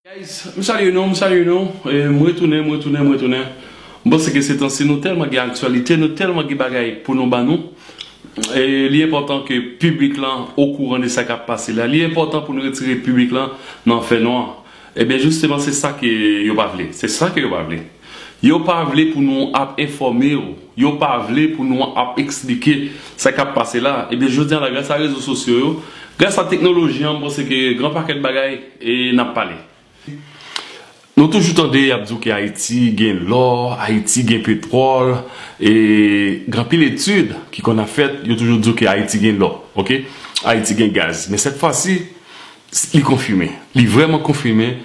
Guys m salye nou m salye nou m retounen m retounen m retounen m panse ke se tan si nou tèlman gen aktyalite nou tèlman gen bagay pou nou ban nou li enpòtan ke piblik lan okouran de sa kap pase la li enpòtan pou nou retire piblik lan nan fè nwa ebyen jisteman se sa ke yo pa vle se sa ke yo pa vle. Yo pa vle pou nou ap enfòme yo. Yo pa vle pou nou ap eksplike sa k ap pase la. Ebyen jodi a la gras a rezo sosyo yo, gras a teknoloji an m panse ke gran pakèt bagay n ap pale. Nou toujou tande y ap di w ke Ayiti gen lò, Ayiti gen petwòl, e gen anpil etid ki konn ap fèt yo toujou di w ke Ayiti gen lò, ok, Ayiti gen gaz. Men sèt fwa si li konfime. Li vrèman konfime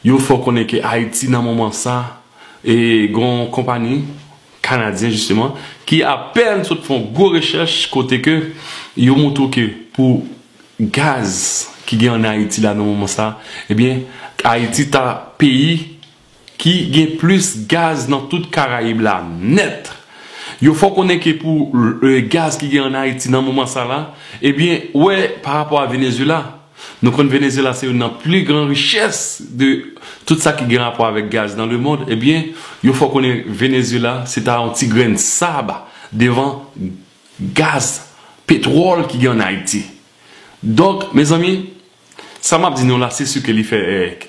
Yo fè w konnen ke Ayiti nan moman sa e gen yon konpani Kanadyen jisteman ki apèn sot fè yon gwo rechèch kote ke yo montre w ke pou gaz ki gen an Ayiti la nan moman sa ebyen Ayiti ta peyi ki gen plis gaz nan tout Karayib la nèt. Yo fè w konnen ke pou gaz ki gen an Ayiti nan moman sa la ebyen wè pa rapò a Venezyela. Nou konn Venezyela se youn nan pli gran richès de tout sa ki gen rapò avèk gaz nan lemond. Ebyen, yo fè w konnen Venezyela se ta yon ti grenn sab devan gaz, petwòl ki gen ann Ayiti. Donk, mezanmi, sa m ap di nou la se si ke li fè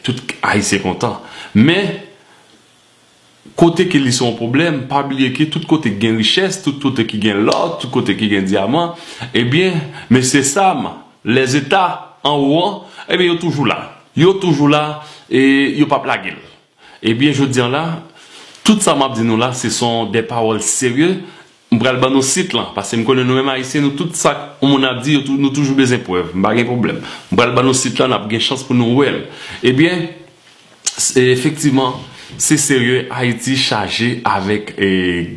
tout Ayisyen kontan. Men. Kote ke li se yon pwoblèm, pa bliye ke tout kote ki gen richès, tout kote ki gen lò, tout kote ki gen dyaman, ebyen, Mesye Sam, Lèzeta, anwo an, ebyen yo toujou la. Yo toujou la e yo pap lage l. Ebyen, jodi an la, tout sa map di nou la, se son de pawòl serye M pral ban nou sit lan, paske m konnen nou menm Ayisyen nou tout sak yon moun ap di yo tou nou toujou bezwen prèv. M pa gen pwoblèm. M pral ban nou sit lan n ap gen chans pou nou wè l. Ebyen, efektivman, se serye Ayiti chaje avèk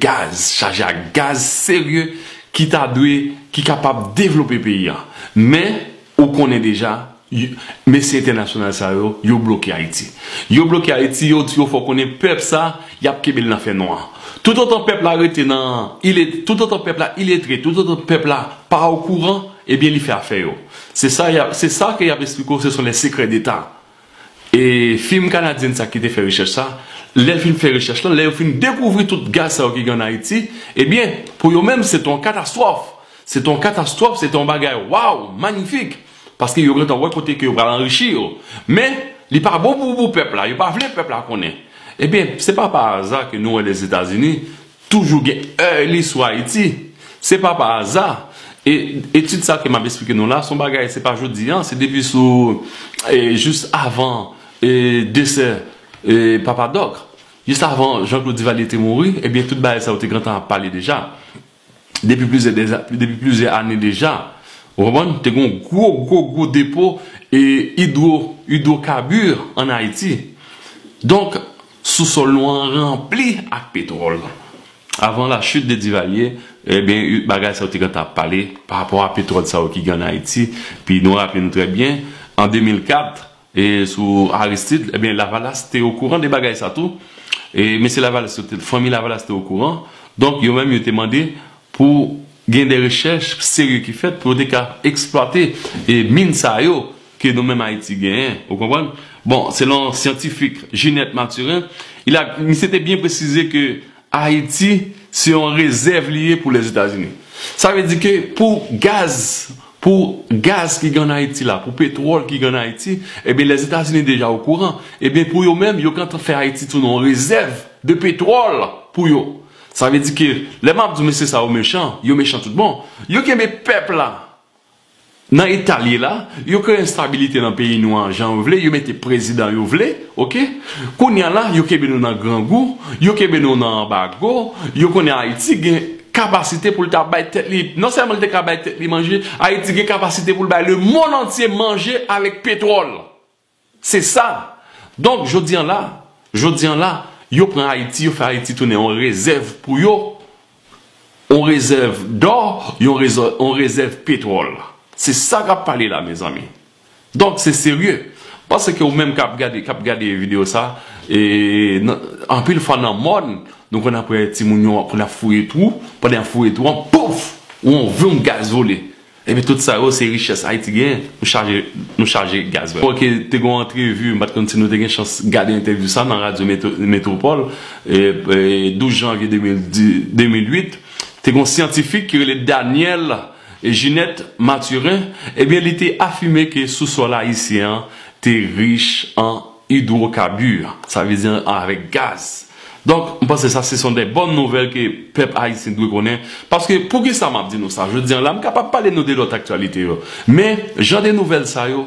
gaz, chaje ak gaz serye ki ta dwe, ki kapab devlope peyi an. Men. Ou konnen deja, mesye entènasyonal sa yo, yo bloke Ayiti. Yo bloke Ayiti, yo di ou fò konnen pèp sa, y ap kenbe l nan fè nwa. Toutotan pèp la rete nan, toutotan pèp la iletre, toutotan pèp la pa okouran, ebyen li fè afè yo. Se sa ke y ap esplike ou se son lè sekrè deta. E fim kanadyen sa ki te fè rechèch sa, lè l fin fè rechèch lan, lè yo fin dekouvri tout gaz sa yo ki gen ann Ayiti, ebyen, pou yo menm, se te yon katastwòf. Se te yon katastwòf, se te yon bagay waw, manyifik! Paske yo gentan wè kote ke yo pral anrichi yo. Men, li pa bon pou pèp la, yo pa vle pèp la konnen. Ebyen, se pa pa aza ke nou wè Lèzetazini, Toujou gen èy li sou Ayiti. Se pa pa aza. E etid sa ke m ap esplike nou la, se yon bagay se pa jodi an, se depi sou jis avan desè Papa Dòk, jis avan Jean Claude Duvalier te mouri, ebyen tout bagay sa yo te gentan ap pale deja. Depi plizyè dèza, depi plizyè ane deja. Ou konprann? Te gen yon gwo, gwo, gwo depo idwo, idwokabir an Ayiti. Donk. Sousòl nou an ranpli ak petwòl. Avan la chute de Divalye, ebyen bagay sa yo te gentan ap pale pa rapò a petwòl sa yo ki gen an Ayiti. Pi nou raple nou trè byen, an 2004, e sou Aristide, ebyen Lavalas te okouran de bagay sa tou. E mesye Lavalas yo te, fanmi Lavalas te okouran. Donk yo menm yo te mande pou gen de rechèch serye ki fèt pou yo te ka eksplwate min sa yo ke nou menm Ayiti genyen, ou konprann? Bon, selon syantifik Ginette Mathurin, il a, misye te byen presize ke Ayiti se yon rezèv li ye pou Lèzetazini. Sa vle di ke pou gaz, pou gaz ki gen ann Ayiti la, pou petwòl ki gen ann Ayiti, ebyen Lèzetazini deja okouran, ebyen pou yo menm, yo gentan fè Ayiti tounen yon rezèv de petwòl pou yo. Sa vle di ke lè map di mesye sa yo mechan, yo mechan tout bon. Yo kenbe pèp la nan etal ye la, yo kreye enstabilite nan peyi nou an jan yo vle, yo mete prezidan yo vle ok. Kounya la yo kenbe nou nan grangou, yo kenbe nou nan anbago, yo konnen Ayiti gen kapasite poul ta bay tèt li, non sèlman li te ka bay tèt li manje, Ayiti gen kapasite poul bay le mond antye manje avèk petwòl. Se sa! Donk, jodi an la, jodi an la, yo pran Ayiti, yo fè Ayiti tounen yon rezèv pou yo, yon rezèv dò, yon rezè, yon rezèv petwòl. Se sa k ap pale la, mezanmi. Donk, se serye. M panse ke ou menm k ap gade, k ap gade videyo sa a, e, nan, anpil fwa nan mòn, nou konn ap wè timoun yo ap, konn ap fouye twou, pandan y ap fouye twou an, pouf! Yon vum gaz vole. Epi tout sa yo se richès Haiti genyen. Nou chaje nou chaje gaz vrèman. Ok te gon antrevi m pat konn si nou te gen chans gade entèvyou sa nan radyo metropole 12 janvye 2008 te gon syantifik ki rele Daniel Ginet Mathurin ebyen li te afime ke sou sòl ayisyen an te rich an Hydrocarbures, sa vle di avèk gaz. Donk, m panse sa se son dè bòn nouvèl ke pèp ayisyen dwe konnen. Paske, poukisa m ap di nou sa jodi an la? M kapab pale nou de lòt aktyalite yo. Men, jan de nouvèl sa yo,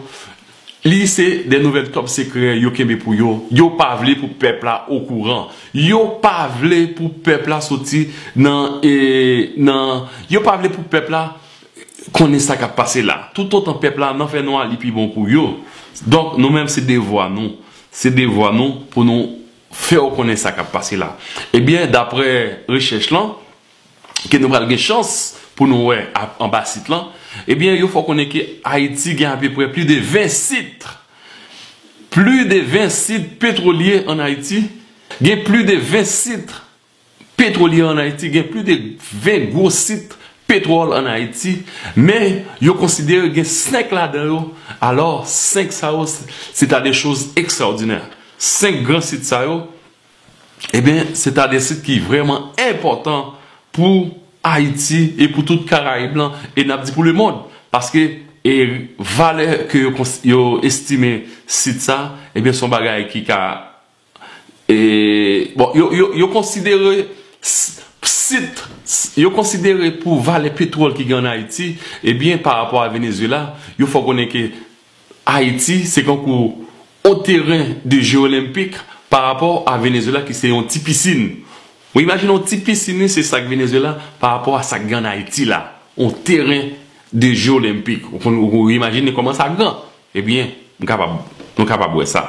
li se dè nouvèl tòp sekrè yo kenbe pou yo. Yo pa vle pou pèp la okouran. Yo pa vle pou pèp la soti nan, nan, yo pa vle pou pèp la. konnen sa kap pase la tout otan pèp la nan fè nwa li pi bon pou yo donk nou menm se devwa nou se devwa nou pou nou fè yo konnen sa kap pase la ebyen daprè rechèch lan ke nou pral gen chans pou nou wè anba sit lan ebyen yo fè w konnen ke ayiti gen apeprè pli de 20 sit pli de 20 sit petwolye an ayiti gen pli de 20 sit Petwolye an Ayiti gen plis de 20 gwo sit petwòl an Ayiti, men yo konsidere gen 5 ladan yo, alò 5 sa yo se ta de choz ekstraòdinè. 5 gran sit sa yo, eben, se ta de sit ki vrèman enpòtan pou Ayiti e pou tout Karayib lan, e n ap di pou lemond, paske e valè ke yo estime sit sa, eben, son bagay ki ka Bon, yo konsidere sit, yo konsidere pou valè petwòl ki gen an Ayiti, ebyen pa rapò a Venezyela, yo fè w konnen ke Ayiti se kankou yon teren de je olenpik pa rapò a Venezyela ki se yon ti pisin. Ou imajine yon ti pisin wi se sa k Venezyela pa rapò a sa k gen an Ayiti la. Yon teren de je olenpik. Ou imajine kòman sa gran. Ebyen, m kapab, nou kapab wè sa.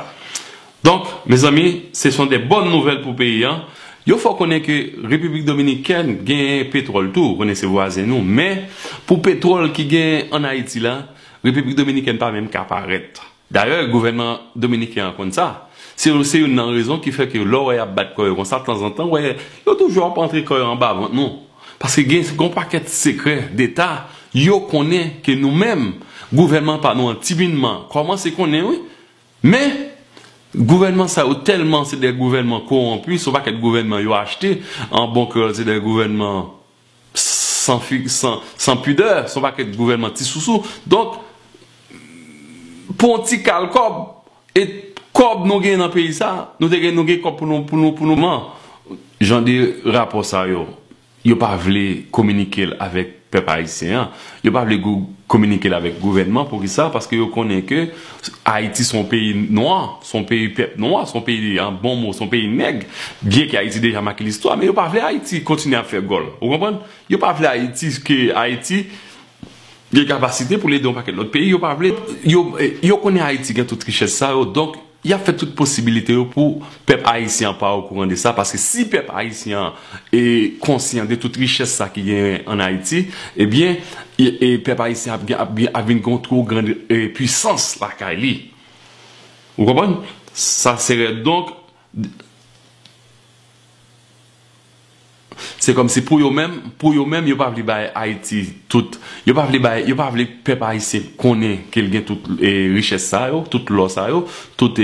Donk, mezanmi, se son de bòn nouvèl pou peyi an. Yo fè w konnen ke Repiblik Dominikèn genyen petwòl tou, ou konnen se vwazen nou, men, pou petwòl ki genyen ann Ayiti la, Repiblik Dominikèn pa menm ka parèt. Dayè, gouvènman dominiken an konn sa. Se yo, se youn nan rezon ki fè ke lè w wè y ap bat kò yo konsa, tanzantan, w wè yo toujou ap antre kò yo anba vant nou. Paske gen yon pakèt sekrè deta yo konnen ke nou menm gouvènman pa nou an timinman kòmanse konnen wi. Men, gouvènman sa yo tèlman se de gouvènman kowonpi, se yon pakèt gouvènman yo achte, an bon kreyòl se de gouvènman san fi, san, san pidè, se yon pakèt gouvènman ti sousou. Donk, pou yon ti kal kòb. Et kob nou gen nan peyi sa nou te gen nou gen kob pou nou pou nou pou nou man. Jan de rapò sa yo, yo pa vle kominikel avèk pèp ayisyen an, yo pa vle gou kominikel avèk gouvènman poukisa paske yo konnen ke ayiti son peyi nwa, son peyi pèp nwa, son peyi an bon mo son peyi nèg byen ke ayiti deja make listwa men yo pa vle ayiti kontinye ap fè gòl ou konprann, yo pa vle ayiti ke ayiti Gen kapasite pou l ede yon pakèt lòt peyi yo pa vle. Yo konnen Ayiti gen tout richès sa yo donk y ap fè tout posibilite yo pou pèp ayisyen an pa okouran de sa paske si pèp ayisyen an konsyan de tout richès sa ki genyen ann Ayiti ebyen pèp ayisyen ap vin gen yon two gran puisans lakay li. Ou konprann? Sa se rèd donk. Se kòm si pou yo menm, pou yo menm yo pa vle bay Ayiti tout, yo pa vle bay, yo pa vle pèp ayisyen konnen ke l gen tout richès sa yo, tout lò sa yo, tout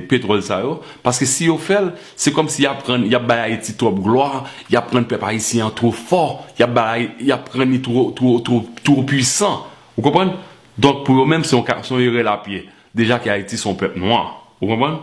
petwòl sa yo. Paske si yo fè l, se kòm si y ap rann, y ap bay Ayiti twòp glwa, y ap rann pèp ayisyen an two fò, y ap bay, y ap rann li two, two, two, two pwisan. Ou konprann? Donk pou yo menm se yon ka, se yon erè lapye. Deja ke Ayiti se yon pèp nwa. Ou konprann?